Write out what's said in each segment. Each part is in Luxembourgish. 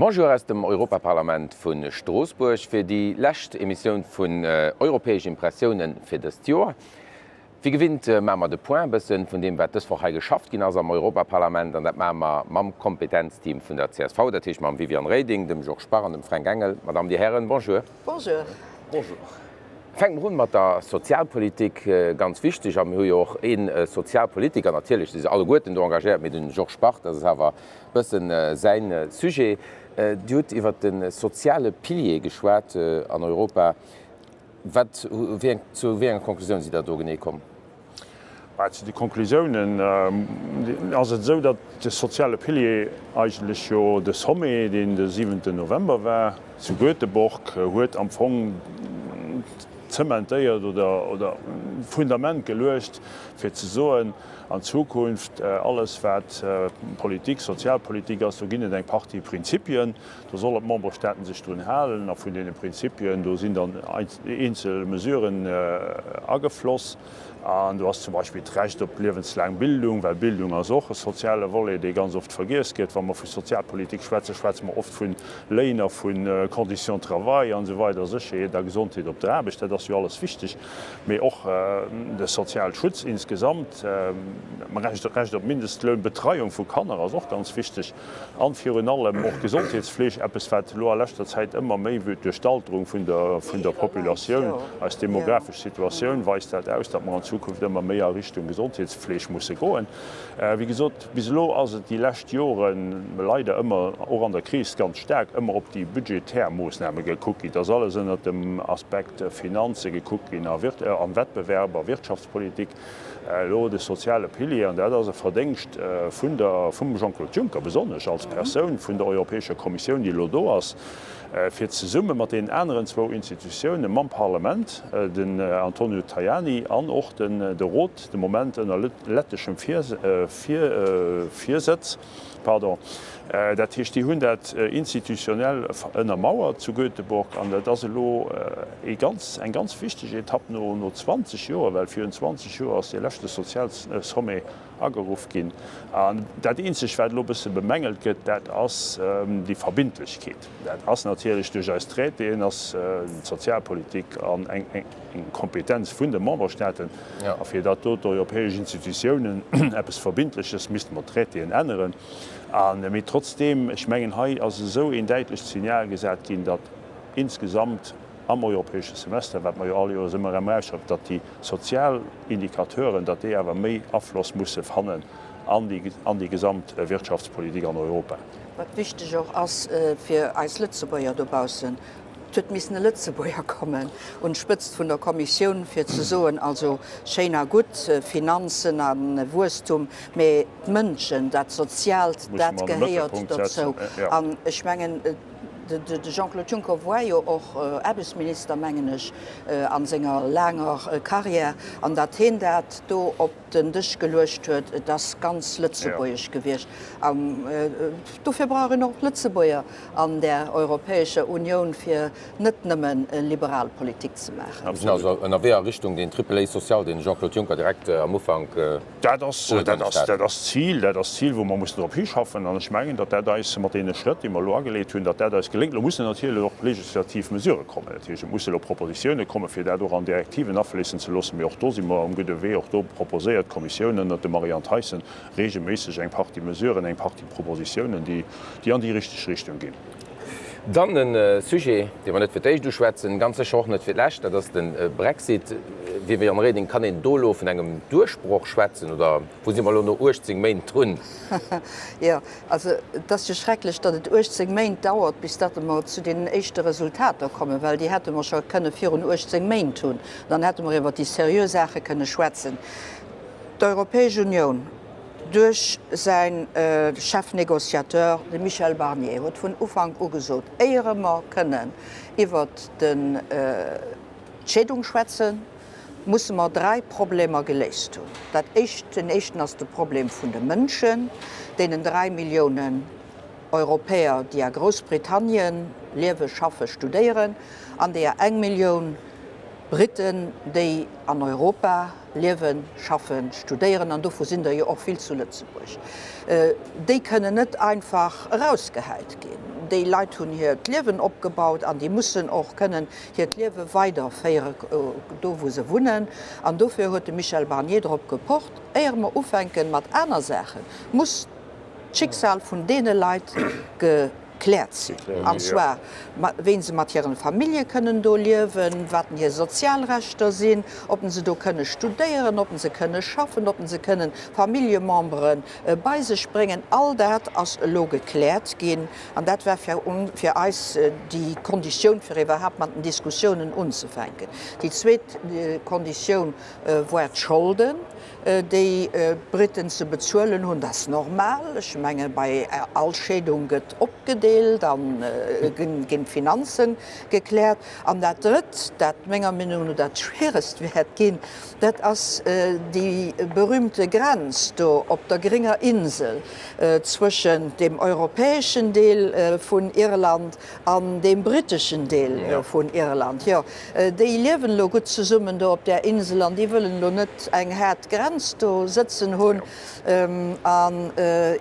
Bonjour aus dem Europaparlament vu Stroossbuerg fir déi lescht Emissioun vun Europäesch Impressiounen fir dëst Joer. Wéi gewinnt maache mer de Point e bësse vun deem, wat dës Woch hei geschafft ginn ass am Europaparlament. An dat maache mer mam Kompetenzteam vun der csv, dat heescht mam Viviane Reding, dem Georges Bach an dem Fränk Engel. Madame, Dir Hären, Bonjour. Bonjour. Bonjour. Fänke mer un mat der Sozialpolitik, ganz wichteg. A mir hu jo och ee Sozialpolitiker, natierlech si se alleguerten do engagéiert, mee de Georges Bach, dat ass awer Bëssen säin Sujet. Dir hutt iwwert de soziale Pilier geschwat an Europa. Wat, wéi eng, zu wéi enger Konklusioun sidd Der do genee komm? Well zu de Konklusiounen ass et esou, datt de soziale Pilier eigentlech jo de Sommet, deen de siwenten November war zu Göteborg, huet am Fong zementéiert oder d'Fundament geluecht, fir ze soen, an Zukunft, alles wat Politik, Sozialpolitik ass, do ginn et eng Partie Prinzipien, do sollen d'Memberstaaten sech drun halen, a vun deene Prinzipien do sinn dann eenzel Mesuren agefloss, an do ass zum Beispill d'Recht op liewenslaang Bildung, well Bildung ass och e soziale Volet, dee ganz oft vergiess gëtt, wa mer vu Sozialpolitik schwätzen, schwätze mer oft vun Léiner, vu Conditions de travail, an esou weider, Sécherheet a Gesondheet op der Aarbecht, dat ass jo alles wichteg. mee och de Sozialschutz insgesamt, Recht op Mindestloun, Betreiung vu Kanner ass och ganz wichteg an virun allem och Gesondheetsfleeg, eppes wat elo a leschter Zäit ëmmer méi wüt duerch d'Alterung vun der Populatioun, eis demografesch Situatioun weist dat aus, datt mer an Zukunft ëmmer méi a Richtung Gesondheetsfleeg musse goen, wéi gesot. Bis elo ass et déi lescht Joren leider ëmmer, och an der Kris ganz staark ëmmer op déi budgetär Moossname gekuckt ginn. Et ass alles ënnert dem Aspekt Finanze gekuckt ginn a Wettbewerb a Wirtschaftspolitik. Elo de soziale Pilier, an dat ass e Verdéngscht vun der, vum Jean-Claude Juncker besonnesch als Persoun, vun der Europäescher Kommissioun, déi elo do ass, fir zesumme mat deenen aneren zwou Institutiounen, mam Parlament, den Antonio Tajani, an och de Rot, de Moment ënner letteschem Virsëtz. Dat heescht, déi hunn dat institutionell ënnermauert zu Göteborg an dat ass elo ee ganz, eng ganz wichteg Etapp no 20 Joer, well virun 20 Joer ass dee leschte Sozialsommet ageruff ginn. An dat eenzegt, wat elo e bësse bemängelt gëtt, dat ass déi Verbindlechkeet. Dat ass natierlech duerch eis Traitéen, ass d'Sozialpolitik eng Kompetenz vun de Memberstaaten. A fir datt do d'europäesch Institutiounen eppes Verbindleches, misste mer d'Traitéen änneren. Mee trotzdeem, ech mengen hei ass esou een däitlecht Signal gesat ginn, datt insgesamt am europäesche Semester, wat mer jo all Joers ëmmer erëm erausschreiwen, datt déi sozial Indicateuren, datt déi awer méi Afloss musse fannen an déi gesamt Wirtschaftspolitik an Europa. Wat wichteg och ass fir eis Lëtzebuerger dobaussen, Et huet missen e Lëtzebuerger kommen un d'Spëtzt vun der Kommissioun, fir ze soen, Also schéin a gutt Finanzen a Wuesstum, mä d'Mënschen, dat Soziaalt, dat gehéiert dozou. An ech mengen, de Jean-Claude Juncker war jo och Aarbechtsminister, mengen ech, a senger laanger Karriär, an datt hien dat do op. den Dësch geluecht huet, et ass ganz lëtzebuergesch gewiescht. An dofir brauch een och Lëtzebuerger an där Europäescher Unioun, fir net nëmme liberal Politik ze maachen. Mir sinn also ënnerwee a Richtung deen Triple-A-Social, deen de Jean-Claude Juncker direkt am Ufank ugekënnegt hat. Dat ass d'Zil, dat ass d'Zil, wou mer mussen drop hischaffen. An ech mengen, datt dat eis mat deene Schrëtt, déi mer elo ageléit hunn, datt dat eis geléngt. Elo muss en natierlech och legislativ Mesurë kommen, dat heescht, et muss elo Propositioune kommen, fir dat och an Direktiven afléissen ze loossen. Mee och do si mer um gudde Wee. Och do proposéiert d'Kommissioun ënnert dem Marianne Thyssen reegelméisseg eng Partie Mesuren, eng Partie Propositiounen, déi an déi richteg Richtung ginn. Dann e Sujet, dee mer net fir d'éischt uschwätzen, ganz sécher och net fir d'lescht, dat ass de Brexit. Viviane Reding, kann een do elo vun engem Duerchbroch schwätzen oder wou si mer elo no 18 Méint drun? Jo, Also, et ass jo schrecklech, datt et 18 Méint dauert, bis datt mer zu deenen éischte Resultater kommen, well déi hätte mer scho kënne virun 18 Méint hunn, dann hätte mer iwwer déi seriö Saache kënne schwätzen. D'Europäesch Unioun duerch säi Chef négociateur, de Michel Barnier, huet vun Ufank u gesot, éiere mer kënnen iwwert d'Scheedung schwätzen, musse mer dräi Problemer geléist hunn. Dat éischt, den éischten ass de Problem vun de Mënschen, deenen dräi Milliounen Europäer, déi a Groussbritannien liewen, schaffen, studéieren, an deeër eng Millioun Briten, déi an Europa liewen, schaffen, studéieren, an dovu sinn der jo och vill zu Lëtzebuerg. Déi kënnen net einfach erausgehäit ginn. Déi Leit hunn hiert Liewen opgebaut an déi mussen och kënnen hiert Liewe weider féiere do wou se wunnen an dofir huet de Michel Barnier drop gepocht, éier mer ufänken mat aner Saachen muss d'Schicksal vun deene Leit gekläert sinn an zwar wéi se mat hiren Famillje kënnen do liewen, waten hir Sozialrechter sinn, oppen se do kënne studéieren, oppen se kënne schaffen, oppen se kënnen Familljememberen bei sech bréngen. All dat ass elo gekläert ginn. An dat war fir eis déi Konditioun, fir iwwerhaapt mat den Diskussiounen unzefänken. Déi zweet Konditioun war d'Scholden, déi d'Briten ze bezuelen hunn. Dat ass normal. Ech menge bei all Scheedung gëtt opgedeelt a ginn d'Finanze gekläert. An dat Drëtt, dat menger Meenung no dat Schwieregst wäert ginn, Dat ass déi berühmte Grenz do op der grénger Insel zwëschen dem europäeschen Deel vun Irland an dem briteschen Deel vun Irland. Jo, déi liewen elo gutt zesummen do op där Insel an déi wëllen elo net eng haart Grenz do sëtzen hunn. An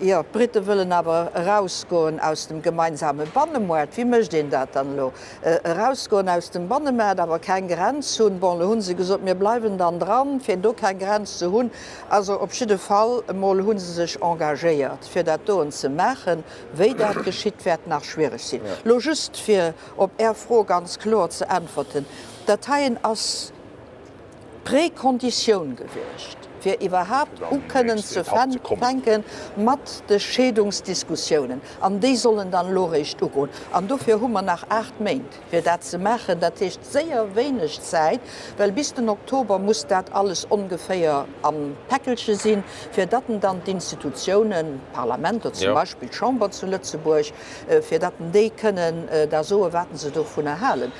jo, d'Brite wëllen awer erausgoen aus dem gemeinsame Bannemaart. Wéi mécht een dat dann elo? erausgoen aus dem Bannemaart, awer keng Grenz hunn. Bon, elo hu se gesot, mir bleiwen dann dran, fir do keng Grenz ze hunn. Also op jidde Fall emol hu se sech engagéiert, fir dat doen ze maachen. Wéi dat geschitt, wäert nach schwiereg sinn. Elo just, fir op Är Fro ganz kloer ze äntwerten, Dat heien ass. Prekonditioun gewiescht, fir iwwerhaapt u kënnen ze fänke mat de Scheedungsdiskussiounen. An déi sollen dann elo réischt ugoen. An dofir hu mer nach aacht Méint, fir dat ze maachen. Dat heescht séier wéineg Zäit, well bis den Oktober muss dat alles ongeféier am Päckelche sinn, fir datt en dann d'Institutiounen, d'Parlamenter, zum Beispill d'Chamber zu Lëtzebuerg, fir datt en déi kënnen da soen, wat en se dovunner halen.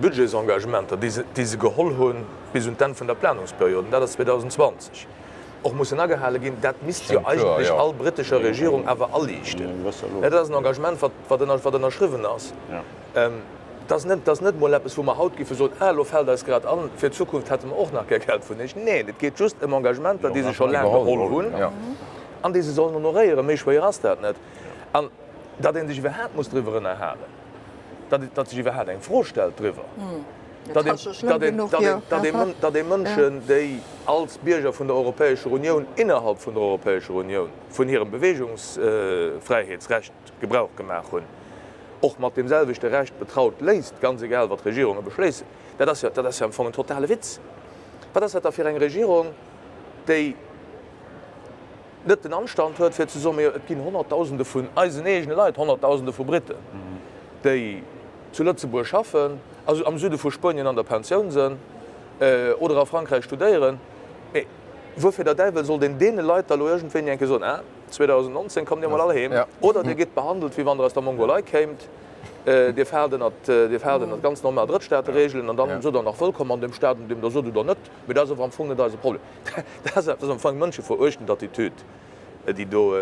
Budgetsengagementer, déi se geholl hu bis un d'Enn vun der Planungsperiod, an dat ass 2020, och mussen agehale ginn. Dat misst jo eigentlech all britescher Regierung awer aliichten. Dat ass en Engagement, wat ënnerschriwwen ass. Dat ass net emol eppes, wou mer haut géife soen, Ah, elo fält eis grad an, fir d'Zukunft hätte mer och nach gär Geld vun iech. Neen, et geet just ëm Engagementer, déi se scho laang geholl hunn an déi se sollen honoréieren. Méi schwéier ass dat net. An datt ee sech iwwerhaapt muss driwwer ënnerhalen, datt sech iwwerhaapt eng Fro stellt driwwer, datt ee Mënschen, déi als Bierger vun der Europäescher Unioun innerhalb vun der Europäescher Unioun vun hirem Beweegungsfräiheetsrecht Gebrauch gemaach hunn, och mat deem selwechte Recht betraut léisst, ganz egal wat Regierunge beschléissen. Dat ass jo am Fong en totale Witz. Wat ass dat da fir eng Regierung, déi net den Anstand huet fir ze soen, Mee et ginn Honnertdausende vun eisen eegene Leit, Honnertdausende vu Britten, déi zu Lëtzebuerg schaffen, also am Süde vu Spuenien an der Pensioun sinn oder a Frankräich studéieren. Mee wuerfir der Däiwel sollt een deene Leit da elo iergendwéini eng Kéier soen, Ah, 2019 kommt Dir emol all heem? Oder Dir gitt behandelt, wéi wann Der aus der Mongolei kéimt, Dir faalt ënnert ganz normal Drëttstaate-Reegelen an dann sidd Der nach wëllkomm an deem Staat, an deem Der sot oder net. Mee dat ass awer am Fong net eise Problem. Dat ass am Fong eng mënscheveruechtend Attitüd, déi do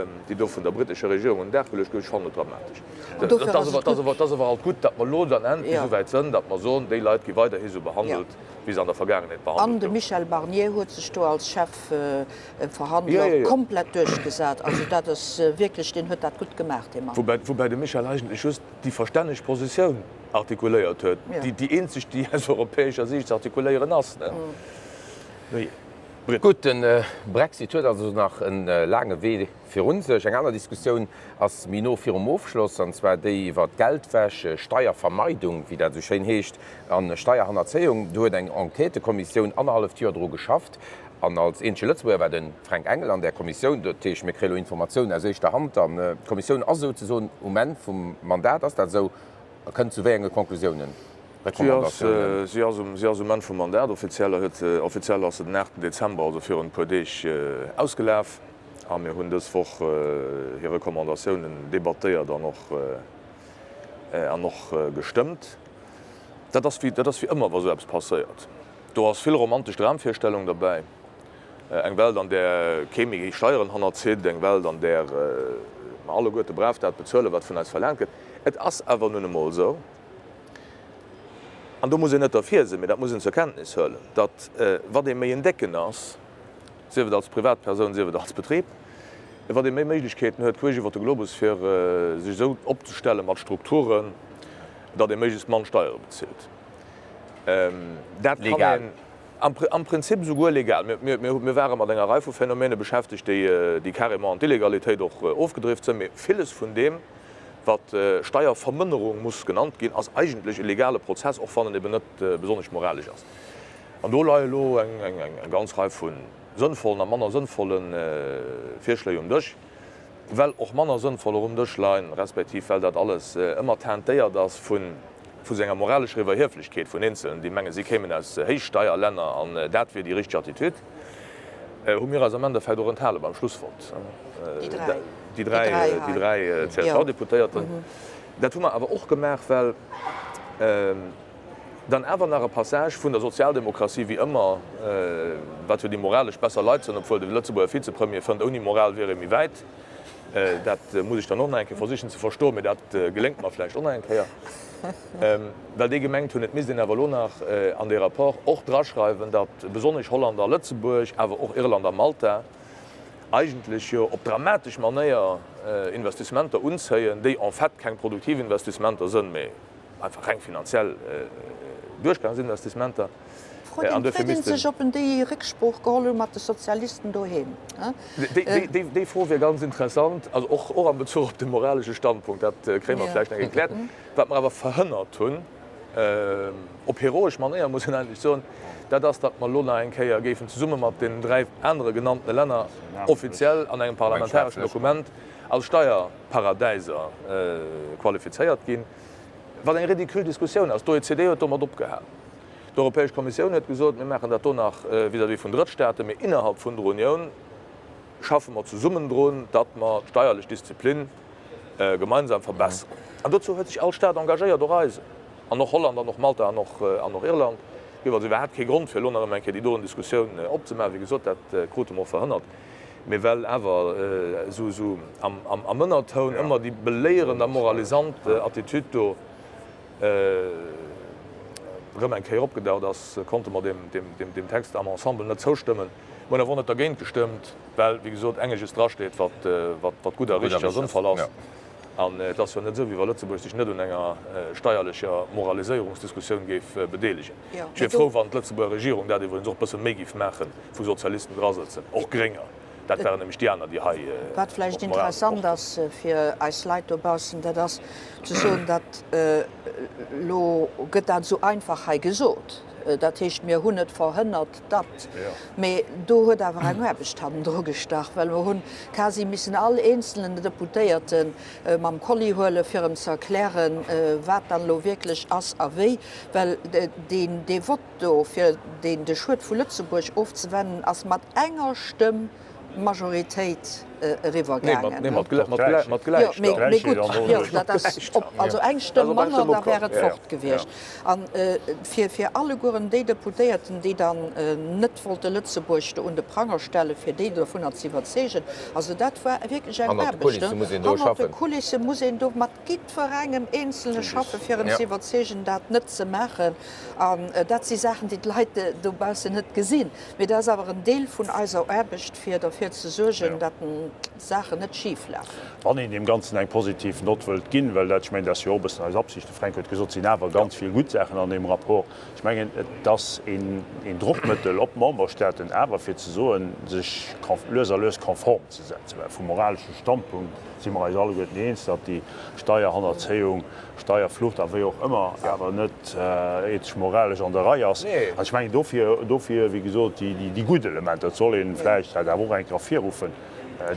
vun der britescher Regierung un den Dag geluecht gëtt. Ech fannen et dramatesch. Et ass awer halt gutt, datt mer elo dann endlech esouwäit sënn, datt mer soen, déi Leit gi weiderhi sou behandelt, wéi se an der Vergaangenheet behandelt goufen. An de Michel Barnier huet sech do als Chefverhandler komplett duerchgesat. Also dat ass wierklech, deen huet dat gutt gemaach, dee Mann. Woubäi de Michel eigentlech just déi verstänneg Positioun Artikuléiert huet. Déi eenzeg, déi aus europäescher Siicht ze artikuléieren ass. Gutt, de Brexit huet also nach e laange Wee virun sech. Eng aner Diskussioun ass méi no virum Ofschloss, an zwar déi iwwer Geldwäsch, Steiervermeidung, wéi dat esou schéin heescht, a Steierhannerzéiung. Do huet eng Enquêtekommissioun annerhalleft Joer dru geschafft, an als eenzege Lëtzebuerger war de Fränk Engel an där Kommissioun. Dat heescht, mir kréie lo Informatiounen aus éischter Hand. An d'Kommissioun ass souzesoen um Enn vum Mandat. Ass dat esou? a kënnt zu wéi enge Conclusiounen, Recommandatiounen? Si ass um Enn vum Mandat. Offiziell ass se den aachten Dezember, also virun e puer Deeg, ausgelaf. A mir hunn dës Woch hir Recommandatiounen debattéiert an och gestëmmt. Dat ass wéi ëmmer, wa sou eppes passéiert. Do ass vill romantesch Dramvirstellung derbäi. Eng Welt, an där kee méi géi Steieren hannerzitt. Eng Welt, an där mer alleguerte brav dat bezuelen, wat vun eis verlaangt gëtt. Et ass awer nun emol esou, an do muss een net derfir sinn, mee dat muss een zur Kenntnis huelen, datt wat ee méi en Décken ass, sief et als Privatpersoun, sief et als Betrib, wat ee méi Méiglechkeeten huet queesch iwwer de Globus, fir sech esou opzestelle mat Strukturen, datt ee méiglechst mann Steiere bezilt. Dat kann een. Am Prinzip esouguer legal. Mir ware mat enger Rei vu Phänomene beschäftegt, déi carrément an d'Illegalitéit och ofgedrift sinn. Mee villes vun deem, wat Steiervermënnerung muss genannt ginn, ass eigentlech e legale Prozess, och wann en eben net besonnesch moralesch ass. An do leie lo eng ganz Rei vu sënnvollen a manner sënnvolle Virschléi um Dësch. well och manner sënnvoll erëm Dësch leien, respektiv well dat alles ëmmer teintéiert ass vu sou enger moralescher Iwwerhieflechkeet vun Eenzelen, déi mengen, si kéimen aus Héichsteierlänner an dat wier déi richteg Attitude, hu mir eis am Endeffekt och enthale beim Schlussvott, déi dräi, déi dräi CSV-Deputéierten. Dat hu mer awer och gemaach, well. Dann awer nach e Passage vun der Sozialdemokratie, wéi ëmmer, Wat huet ee moralesch besser Leit ze hunn? Obwuel de Lëtzebuerger Vizepremier fënnt, ouni Moral wier ee méi wäit. Dat muss ech dann och nach eng Kéier versichen ze verstoen, mee dat geléngt mer vläicht och nach eng Kéier. Well déi gemengt hunn, et misst een awer elo nach an dee Rapport och draschreiwen, datt besonnesch Holland a Lëtzebuerg, awer och Irland a Malta eigentlech jo op dramatesch Manéier Investissementer unzéien, déi en fait keng produktiv Investissementer sënn, mee einfach reng finanziell duerchgaange sinn, dass dës Menter. D'Fro deem d'Frieden sech, ob en déi Récksprooch geholl huet mat de Sozialisten doheem. Déi Fro wier ganz interessant, also och am Bezuch op de moralesche Standpunkt. Dat kréie mer vläicht nach erkläert. Wat mer awer verhënnert hunn, op heroesch Manéier muss een eigentlech soen, dat ass, datt mer elo nach eng Kéier géifen zesumme mat deenen dräi anere genanntene Länner offiziell an engem parlamentareschen Dokument als Steierparadäiser qualifizéiert ginn. wat eng ridicule Diskussioun ass. D'OECD huet domat opgehal. D'Europäesch Kommissioun huet gesot, mir maachen dat do nach vis-à-vis vun Drëttstaaten, mee innerhalb vun der Unioun schaffe mer zesummen drun, datt mer d'steierlech Disziplin gemeinsam verbesseren. An dozou huet sech all Staat engagéiert, och eisen, an och Holland an och Malta an och Irland. Et gouf also iwwerhaapt kee Grond, fir elo nach ëmmer eng Kéier déi doen Diskussioun opzemaachen. Wéi gesot, dat krute mer och verhënnert. Mee well awer esou am Ënnertoun ëmmer déi beléierend a moralisant Attitüd do erëm eng Kéier opgedaucht ass, konnte mer deem Text am Ensemble net zoustëmmen. Mir hunn awer och net dergéint gestëmmt, well, wéi gesot, engeges drasteet, wat gutt a richteg a sënnvoll ass. An et ass jo net esou, wéi wa Lëtzebuerg sech net un enger steierlecher Moraliséierungsdiskussioun géif bedeelegen. Ech wier frou, wann d'Lëtzebuerger Regierung dat iwwregens och e bësse méi géif maachen, wou Sozialisten dra sëtzen, och Grénger. Dat waren nämlech déi aner, déi hei op d'Moral gepocht hunn. Wat vläicht interessant ass fir eis Leit dobaussen, dat ass ze soen, dat elo gëtt dat esou einfach hei gesot, dat heescht, mir hunn et verhënnert, Dat, mee do huet awer eng Aarbecht hannendru gestach, well mer hu quasi missen all eenzelnen Deputéierte mam Kolli huelen, fir em ze erklären, wat dann elo wierklech ass a wéi. Well dee Vott do, fir de Schued vu Lëtzebuerg ofzewennen, ass mat enger Stëmm. Majoritéit eriwwer gaangen. Also eng Stëmm manner, da wär et fort gewiescht. A fir allegueren déi Deputéierten, déi dann net wollte Lëtzebuerg do un de Pranger stellen, fir déi dovunner ze iwwerzeegen, also dat war wierklech eng Aarbecht. Hannert de Kulisse muss een do mat jiddwerengem Eenzele schaffen, fir en ze iwwerzeegen, dat net ze maachen. An dat si Saachen, déi d'Leit dobaussen net gesinn. Mee dat ass awer en Deel vun eiser Aarbecht, fir derfir ze suergen, datt d'Saachen net schif lafen. Wann een deem Ganzen eng positiv Nott wëllt ginn, well dat, ech mengen, dat ass jo och e bëssen eis Absicht, de Fränk huet gesot, et sinn awer ganz vill gutt Saachen an deem Rapport, ech mengen, et ass een Drockmëttel op d'Memberstaaten awer, fir ze soen, sech lues a lues konform ze setzen, well vum moralesche Standpunkt si mer eis alleguerten eens, datt déi Steierhannerzéiung, Steierflucht a wéi och ëmmer, awer net ethesch, moralesch an der Rei ass. An ech mengen dofir, dofir, wéi gesot, déi, déi gutt Elementer. Et soll een vläicht dat awer och eng Kéier ervirruffen,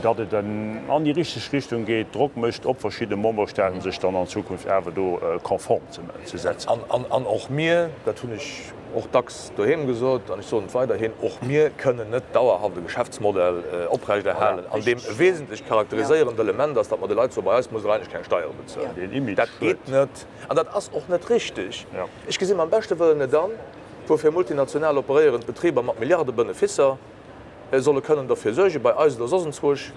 datt et an déi richteg Richtung geet, Drock mécht op verschidde Memberstaaten, sech dann an Zukunft awer do konform ze setzen. An och mir, dat hunn ech. och dacks doheem gesot, an ech soen et weiderhin, och mir kënnen net dauerhaft e Geschäftsmodell oprechterhalen, an deem e wesentlecht charakteriséierend Element ass, datt mer de Leit soen, bei eis muss der eigentlech keng Steiere bezuelen. Dat geet net an dat ass och net richteg. Ech gesinn mam beschte Wëllen net an, woufir multinational operéierend Betriber mat Milliarde Beneficer, solle kënnen derfir suergen, bei eis oder soss enzwousch,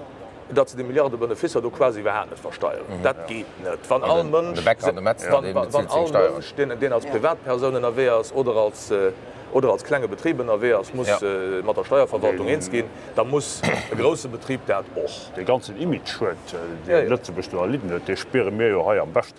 datt se déi Milliarde Benefisser do quasi iwwerhaapt net versteieren. Dat geet net, wann all Mënsch, deen als Privatpersoun ënnerwee ass oder als klenge Betrib ënnerwee ass, muss mat der Steierverwaltung eens ginn, da muss e grousse Betrib dat och. Dee ganzen Image-Schued, dee Lëtzebuerg do erlidden huet, dee spiere mir jo hei am beschten.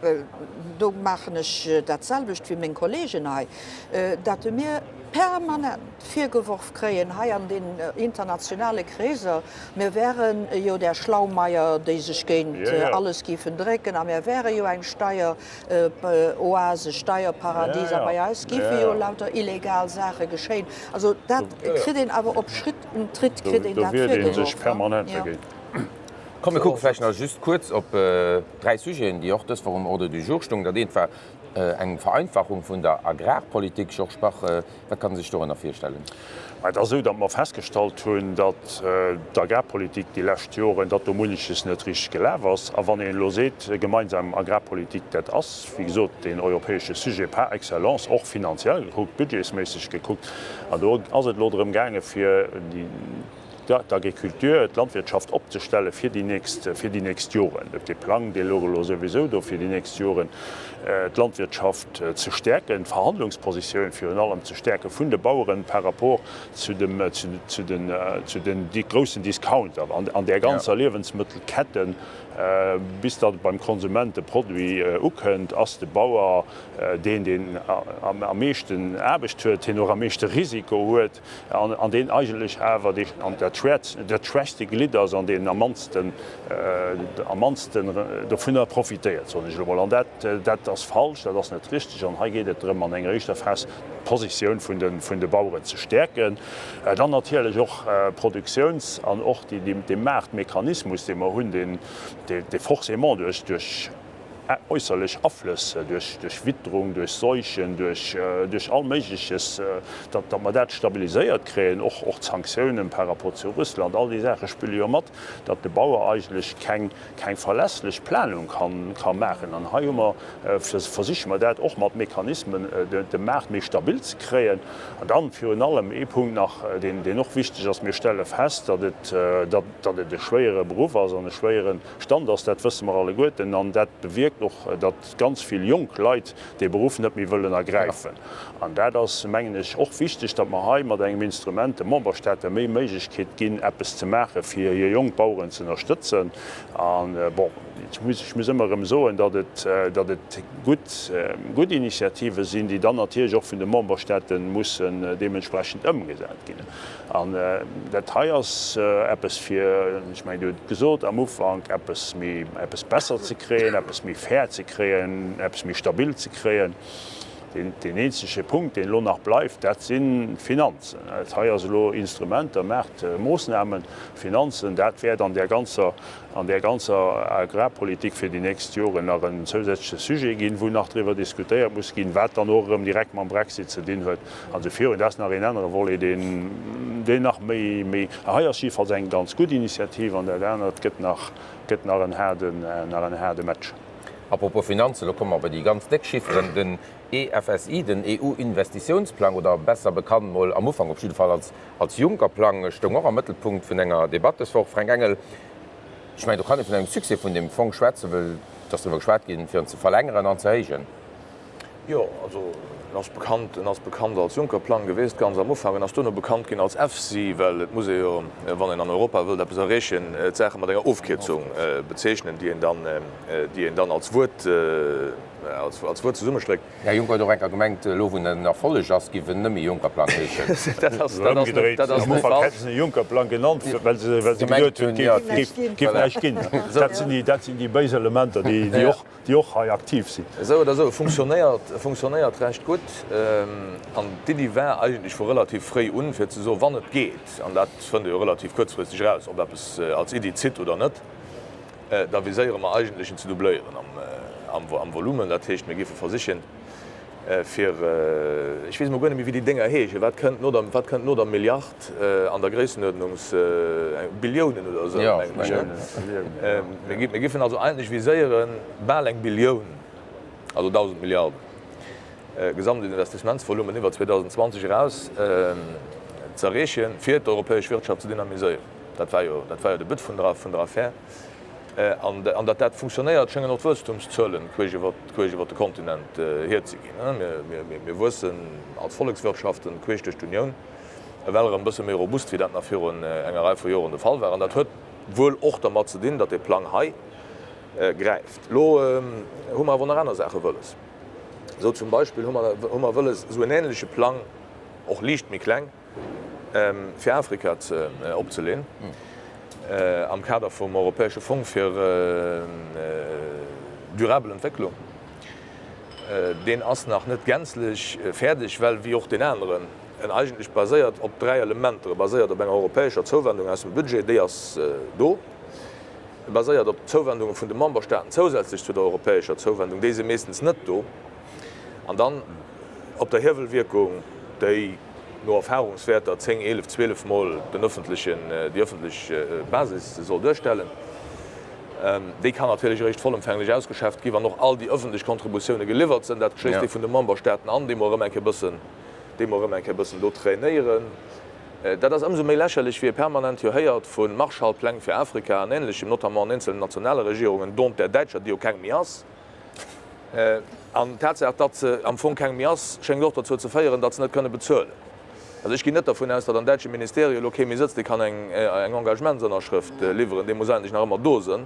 well do maachen ech dat selwecht wéi meng Kollegen hei, dat mir permanent virgeworf kréien hei an den internationale Kreeser, mir wären jo där Schlaumeier, déi sech géint alles géifen drécken a mir wäre jo eng Steieroase, Steierparadies a bei eis géife jo lauter illegal Saache geschéien. Also dat kritt een awer op Schritt und Tritt kritt een dat virgeworf. Komm, mir kucke vläicht nach just kuerz op dräi Sujeten, déi och dës Woch um Ordre du jour stoungen. Dat eent war eng Vereinfachung vun der Agrarpolitik. Georges Bach, wat kann ee sech dorënner virstellen? Et ass esou, datt mer festgestallt hunn, datt d'Agrarpolitik déi lescht Joren, datt do munneches net richteg gelaf ass. A wann een elo seet, gemeinsam Agrarpolitik, dat ass wéi gesot deen europäesche Sujet par excellence, och finanziell gekuckt, budgetsméisseg gekuckt. An do ass et elo drëm gaangen, fir déi, ja, d'Agriculture, d'Landwirtschaft opzestellen fir déi nächst, fir déi nächst Joren. Et dee Plang, dee log elo souwisou do fir déi nächst Joren, d'Landwirtschaft ze stäerken, d'Verhandlungspositioun virun allem ze stäerke vun de Baueren par rapport zu dem, zu den, zu den groussen Discounter an, an där ganzer Liewensmëttelkette. Bis datt beim Konsument de Produit ukënnt, ass de Bauer deen, deen am, am meeschten Aarbecht huet, deen och am meeschte Risiko huet. an deen eigentlech awer dat schwächste Glidd ass an deen am mannste dovunner profitéiert, soen ech elo mol. An dat ass falsch, dat ass net richteg. An hei geet et drëm, an enger éischter Phas d'Positioun vun de Baueren ze stäerken. Dann natierlech och d'Produktiouns an och dee Maartmechanismus, dee mer hunn, dee forcément duerch äusserlech Aflëss, duerch Witterung, duerch Seuchen, duerch all Méigleches, datt mer dat stabiliséiert kréien, och d'Sanktiounen par rapport zu Russland, all déi Saache spille jo mat, datt de Bauer eigentlech keng verlässlech Planung ka maachen. An hei hu mer, versiche mer dat och mat Mechanismen, de Maart méi stabil ze kréien. An dann virun allem ee Punkt nach, deen och wichteg ass, Mir stelle fest, datt et e schwéiere Beruff ass an e schwéieren, Stand ass, dat wësse mer alleguerten. An dat bewierkt och, datt ganz vill jonk Leit dee Beruff net méi wëllen ergräifen. An dat ass, mengen ech, och wichteg, datt mer hei mat engem Instrument de Memberstaate méi Méiglechkeet ginn, eppes ze maache fir hir jonk Baueren ze ënnerstëtzen. A bon, ech muss ëmmer erëm soen, datt et gutt Initiative sinn, déi dann natierlech och vun de Memberstaate mussen deementsprechend ëmgesat ginn. An dat hei ass eppes fir, ech mengen, Dir hutt et gesot am Ufank, eppes méi, eppes besser ze kréien, eppes méi fair ze kréien, eppes méi stabil ze kréien. Deen eenzege Punkt, deen elo nach bleift, dat sinn d'Finanzen. Dat hei ass elo Instrumenter, maacht Moosnamen. Finanzen, dat wäert an där ganzer, an där ganzer Agrarpolitik fir déi nächst Joren nach en zousätzleche Sujet ginn, wou nach driwwer diskutéiert muss ginn, wat dann och erëm direkt mam Brexit ze dinn huet. An de Fiori, dat ass nach een anere Volet, deen nach méi, méi, a hei ass jiddefalls eng ganz gutt Initiativ, an dat anert gëtt nach, gëtt nach en haarden, nach en haarde Match. A propos Finanzen, elo komme mer bei déi ganz déck Chifferen, den EFSI, den EU-Investitiounsplang, oder besser bekannt, mol am Ufank op jidde Fall, als, als Juncker-Plang, stoung och am Mëttelpunkt vun enger Debatt dës Woch. Fränk Engel, ech mengen, do kann ee vun engem Succès vun deem Fong schwätzen, well et ass driwwer geschwat ginn, fir en ze verlängeren an ze héijen. Jo, also en ass bekannt, en ass bekannt als Juncker-Plang geweest ganz am Ufank, en ass duerno bekannt ginn als EFSI, well et muss ee jo, wann een an Europa wëllt eppes erreechen, d'Saache mat enger Ofkierzung bezeechnen, déi een dann, déi een dann als Wuert, als Wuert zesummestréckt. Här Juncker huet och eng Kéier gemengt, elo wou en en Erfolleg ass, géif en nëmme Juncker-Plang heeschen. Dat ass net, dat ass net falsch. Am Ufank hätte se en Juncker-Plang genannt, well se geduet hunn, et géif näischt ginn. Dat sinn déi béis Elementer, déi och. déi och hei aktiv sinn. Esou oder esou, funktionéiert, funktionéiert recht gutt. An d'Iddi war eigentlech vu relativ fréi un, fir ze soen, wann et geet, an dat fënnt ee jo relativ kuerzfristeg eraus, ob eppes als Iddi zitt oder net, da viséiere mer eigentlech en ze doubléieren am Volumen. Dat heescht, mir géife versichen, fir, ech weess elo guer net méi wéi déi Dénger heeschen, wat kënnt no der, wat kënnt no der Milliard an der Gréissenuerdnung, Billiounen oder esou mengen ech, hä? Mir giffen also eigentlech viséiere bal eng Billioun, also 1.000 Milliarden Gesamtinvestissementsvolumen iwwer 2020 eraus ze erreechen, fir d'europäesch Wirtschaft ze dynamiséieren. Dat war jo, dat war jo de But vun der, vun der Affär. An datt dat funktionéiert, schéngen och d'Wuesstumszuelen queesch iwwert de Kontinent hierzeginn. Mir wuessen als Vollekswirtschaften queesch duerch d'Unioun, ewell erëm e bësse méi robust, wéi dat nach virun enger Rei vu Joren de Fall war. An dat huet wuel och dermat ze dinn, datt dee Plang hei gräift. Elo hu mer awer nach aner Saache wëlles. Esou zum Beispill hu mer wëlles esou en änleche Plang, och liicht méi kleng, fir Afrika opzeleen am Kader vum europäesche Fong fir durabel Entwécklung. Deen ass nach net gänzlech fäerdeg, well wéi och deen aneren, en eigentlech baséiert op dräi Elementer. E baséiert op enger europäescher Zouwendung aus dem Budget, déi ass do. E baséiert op Zouwendunge vun de Memberstaaten zousätzlech zu der europäescher Zouwendung, déi si meeschtens net do. An dann op der Hiewelwierkung, déi no Erfahrungswäerter 10, 11, 12 Mol den öffentlichen, déi öffentlech Basis soll duerstellen. Déi kann natierlech eréischt vollëmfänglech ausgeschäfft gi wann och all déi öffentlech Kontributiounen geliwwert sinn. Dat schléisst ee vun de Memberstaaten an, déi mer erëm eng Kéier bëssen, déi mer erëm eng Kéier bëssen do trainéieren. Dat ass ëmsou méi lächerlech, wéi ee permanent jo héiert vu Marshallpläng fir Afrika an Ähnlechem, notamment an eenzelnen nationale Regierungen, dont der däitscher, déi jo keng méi ass. An d'Tatsaach, datt se am Fong keng méi ass, schéngt och dozou ze féieren, datt se net kënne bezuelen. Also ech ginn net dervun aus, datt am däitsche Ministerio elo kee méi sëtzt, dee kann eng Engagementsënnerschrëft liwweren. Dee muss eigentlech nach ëmmer do sënn,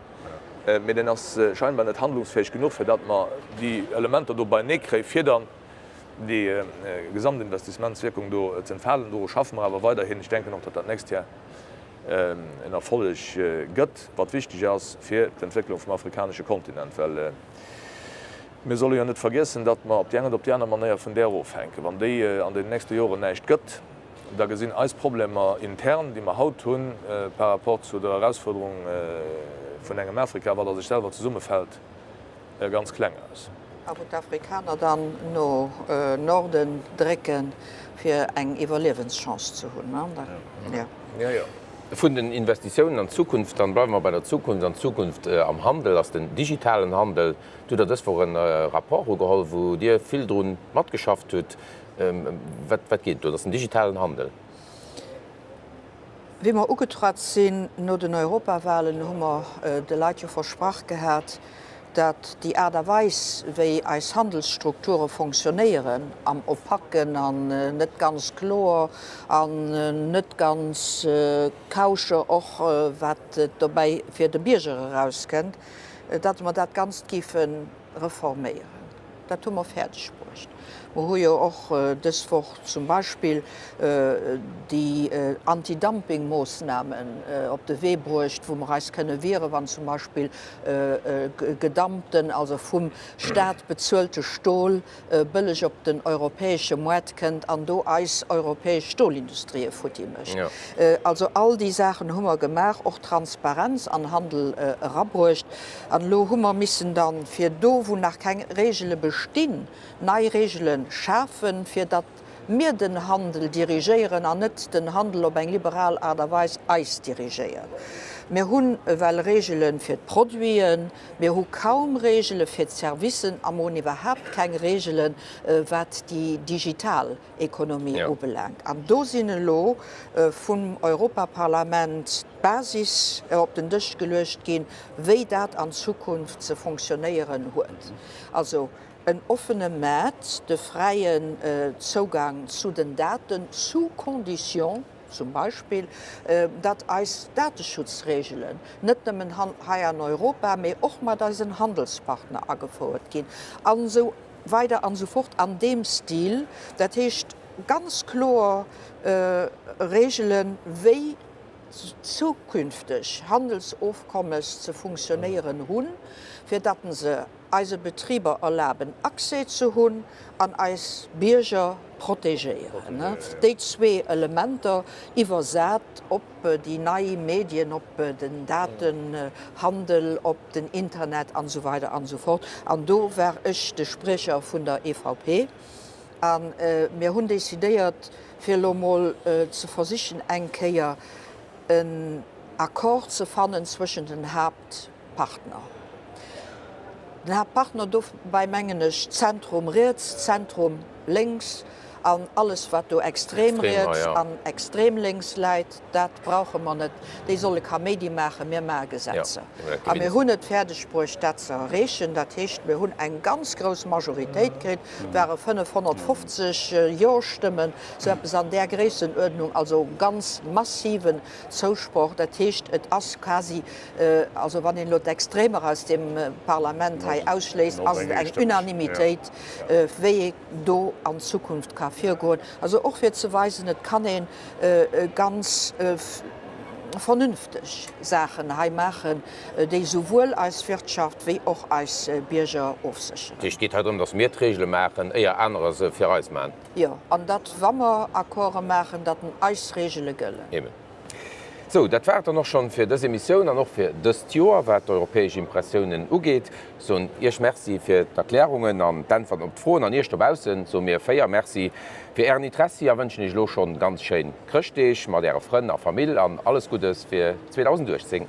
mee deen ass scheinbar net handlungsfäeg genuch, fir datt mer déi Elementer do beinee kréien, fir dann déi Gesamtinvestissementswierkung do ze entfalen. Doru schaffe mer awer weiderhin. Ech denken och, datt dat nächst Jar, en Erfolleg gëtt, wat wichteg ass fir d'Entwécklung vum afrikanesche Kontinent, well mir solle jo net vergiessen, datt mer op déi eng oder op déi aner Manéier vun där ofhänken. Wann déi an deenen nächste Joren näischt gëtt, da gesinn eis Problemer intern, déi mer haut hunn, par rapport zu der Erausfuerderung vun engem Afrika, wat a sech selwer zesummefält, e ganz kleng aus. A wou d'Afrikaner dann no Norden drécken, fir eng Iwwerliewenschance ze hunn. Vun den Investitiounen an d'Zukunft, dann bleiwe mer bei der Zukunft. An d'Zukunft am Handel ass den digitalen Handel. Do hutt Der dës Woch e Rapport ugeholl, wou Dir vill dru matgeschafft hutt. Wat geet do? Dat ass den digitalen Handel. Wéi mer ugetratt sinn no den Europawahlen, hu mer de Leit jo versprach gehat, datt déi Aart a Weis, wéi eis Handelsstrukture fonctionnéieren, am Opaken an net ganz kloer an net ganz kauscher, och wat dobäi fir de Bierger erauskënnt, datt mer dat Ganzt géifen, reforméieren. Dat hu mer fäerdeg bruecht. Mer hu jo och dës Woch zum Beispill déi Antidumpingmoossnamen op de Wee bruecht, wou mer eis kënne wiere wann zum Beispill gedumpten, also vum Staat bezuelte Stol bëlleg op den europäesche Moart kënnt an do eis europäesch Stolindustrie futti mécht. Also all déi Saachen hu mer gemaach, och Transparenz an Handel erabruecht. An elo hu mer missen da fir do, wou nach keng Regele bestinn, nei Regele schafen, fir datt mir den Handel dirigéieren an net den Handel op eng liberal Aart a Weis eis dirigéiert. Mir hunn ewell Regele fir d'Produiten, mir hu kaum Regele fir d'Servicen a mir hunn iwwerhaapt keng Regele wat déi digital Ekonomie ubelaangt. An do sinn elo vum Europaparlament d'Basis op den Dësch geluecht ginn, wéi dat an Zukunft ze fonctionnéieren huet. En offene Maart, de fräien Zougang zu den Daten, sous condition zum Beispill, datt eis Dateschutzreegelen net nëmmen hei an Europa, mee och mat eisen Handelspartner agefouert ginn an esou weider an esou fort an deem Stil. Dat heescht, ganz kloer Reegelen, wéi zukünfteg Handelsofkommes ze funktionéieren hunn, fir datt en se, eise Betriber erlaben Accès ze hunn an eis Bierger protegéieren. Déi zwee Elementer iwwersat op déi nei Medien, op den Datenhandel, op den Internet an esou weider an esou fort. An do war ech de Spriecher vun der EVP a mir hunn decidéiert fir elo emol ze versichen eng Kéier en Accord ze fannen zwëschen den Haapt-, Haaptpartner. Den Haaptpartner dobäi mengen ech Zentrum riets, Zentrum lénks an alles wat do extrem riets an extrem lénks läit, dat brauche mer net. Déi solle Kaméidi maachen, mir maache Gesetzer a mir hunn et fäerdeg bruecht dat ze erreechen. Dat heescht, mir hunn eng ganz grouss Majoritéit kritt, et ware 550 Jo-Stëmmen, sou eppes an där Gréissenuerdnung, also ganz massiven Zousproch, dat heescht et ass quasi, also wann een elo d'Extremer aus deem Parlament hei ausschléisst, ass et eng Unanimitéit, wéi ee do an Zukunft ka virgoen. Also och fir ze weisen, et kann ee ganz vernünfteg Saachen hei maachen, déi souwuel eis Wirtschaft wéi och eis Bierger ofsécheren. Et geet hei drëm, datt mir d'Regele maachen, éier anerer se fir eis maachen. Jo, an datt, wa mer Accorde maachen, datt eis Regele gëllen. Eben. Sou, dat war et dann och schonn fir dës Emissioun an och fir dëst Joer, wat d'europäesch Impressiounen ugeet. Soen Iech Merci fir d'Erklärungen an d'Äntwerten op d'Froen an Iech dobaussen soe mir véier Merci fir Ären Interessi a wënschen Iech elo schonn ganz schéin Chrëschtdeeg mat Äre Frënn a Famill an alles Guddes fir 2018.